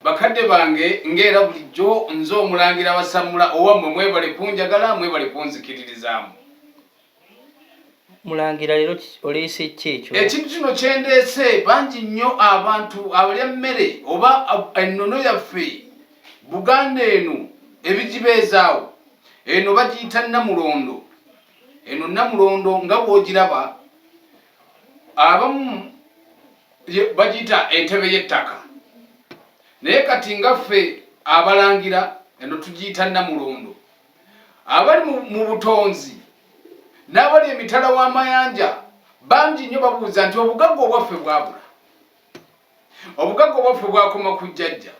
Bakadde bange nga era bulijjo nze omulangira wasammula owammwe mwebale kunjagala mwebale kunzikiririzaamu mulangira leero oleese ki ekyo ekintu kino kyendeese bangi nnyo abantu abalya mmere oba ennono yaffe buganda eno ebigibeezaawo eno bagiyita namulondo eno namulondo nga bwogiraba abamu bagiyita entebe y'ettaka naye kati nga ffe abalangira eno tugiyita namulondo abali mu butonzi n'abali emitala w'amayanja bangi nnyo babuuza nti obugagga obwaffe bwabula obugagga obwaffe bwakoma ku jjajja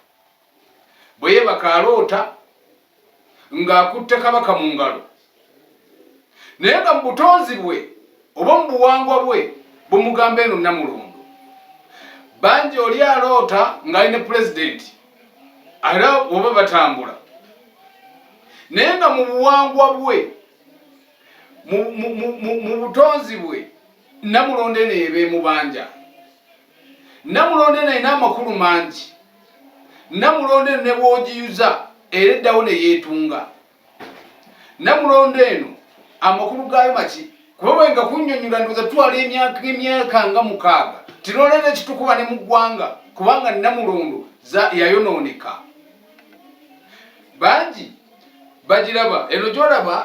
bwe yeebaka aloota ng'akutte kabaka mu ngalo naye nga mu butonzi bwe oba mu buwangwa bwe bumugamba eno namulundu bangi oli aloota ng'ali ne pulezidenti era oba batambula naye nga mu buwangwa bwe mu butonzi bwe namulondo eno eba emubanja Namulondo eno erina amakulu mangi. Namulondo eno ne bw'ogiyuza era eddawo ne yeetunga. Namulondo eno amakulu gaayo maki? Kuba bwe nga kunnyonnyola ndowooza twala emyaka emyaka nga mukaaga tinooleera ekitukuba ne mu ggwanga kubanga namulondo yayonooneka. Bangi bagiraba eno gy'olaba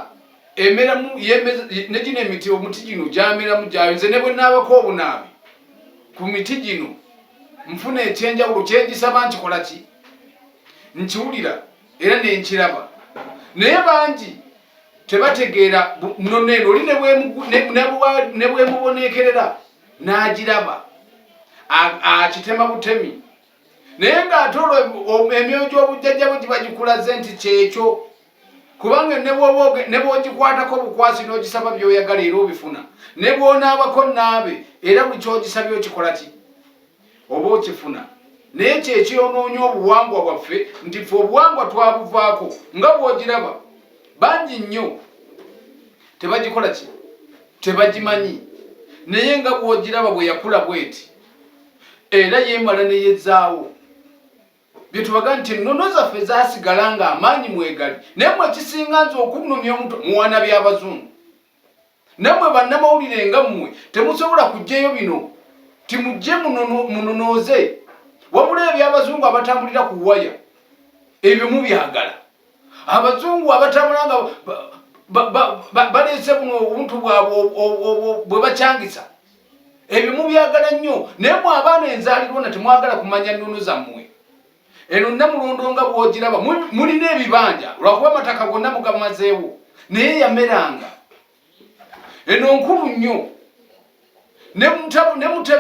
emeramu ne gino emiti omuti gino gyameramu gyayo nze ne bwe naabako obunaabi ku miti gino nfuna ekyenjawulo kyengisaba nkikola ki nkiwulira era nenkiraba naye bangi tebategeera nono eno oli nebwemuboneekerera n'agiraba akitema butemi naye ng'ate olwo emyoyo gy'obujjajja bwe giba gikulaze nti kyekyo kubanga ne bwogikwatako obukwasi n'ogisaba by'oyagala era obifuna ne bwonaabako naabe era buli kyogisabye okikola ki oba okifuna naye kyekyonoonya obuwangwa bwaffe nti fe obuwangwa twabuvaako nga bwogiraba bangi nnyo tebagikola ki tebagimanyi naye nga bwogiraba bwe yakula bweti era yemala neyezaawo byetubaga nti ennono zaffe zasigala nga amaanyi mwegali naye mwe ekisinga nze okunumya omuto muwana byabazungu namwe bannamawulire nga mmwe temusobola kujjayo bino timujje munonooze wabula ebyabazungu abatambulira ku waya ebyo mubyagala abazungu abatambula nga baleese buno obuntu bwabwe bwe bakyangisa ebyo mubyagala nnyo naye mwe abaana enzaalirwa na temwagala kumanya nnono zammwe eno namulondo nga bwogiraba mulina ebibanja lwakuba amataka gonna mugamazeewo naye yameranga eno nkulu nnyo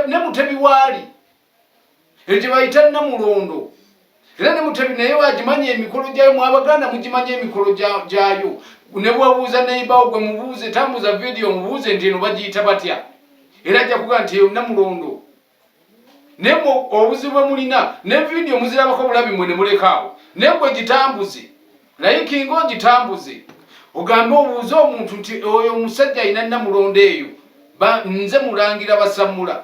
ne mutebi waali ekyo bayita namulondo era ne mutebi naye wagimanyi emikolo gyayo mwabaganda mugimanyi emikolo gyayo ne bwabuuza neibawo gwe mubuuze tambuza vidiyo mubuuze nti eno bagiyita batya era ajja kuga nti eyo namulondo naye obuzibu bwe mulina ne vidiyo muzirabako bulabi mwe ne mulekaawo naye gwe gitambuze naye kinga ogitambuze ogambe obuuze omuntu nti oyo omusajja alina namulondo eyo nze mulangira basammula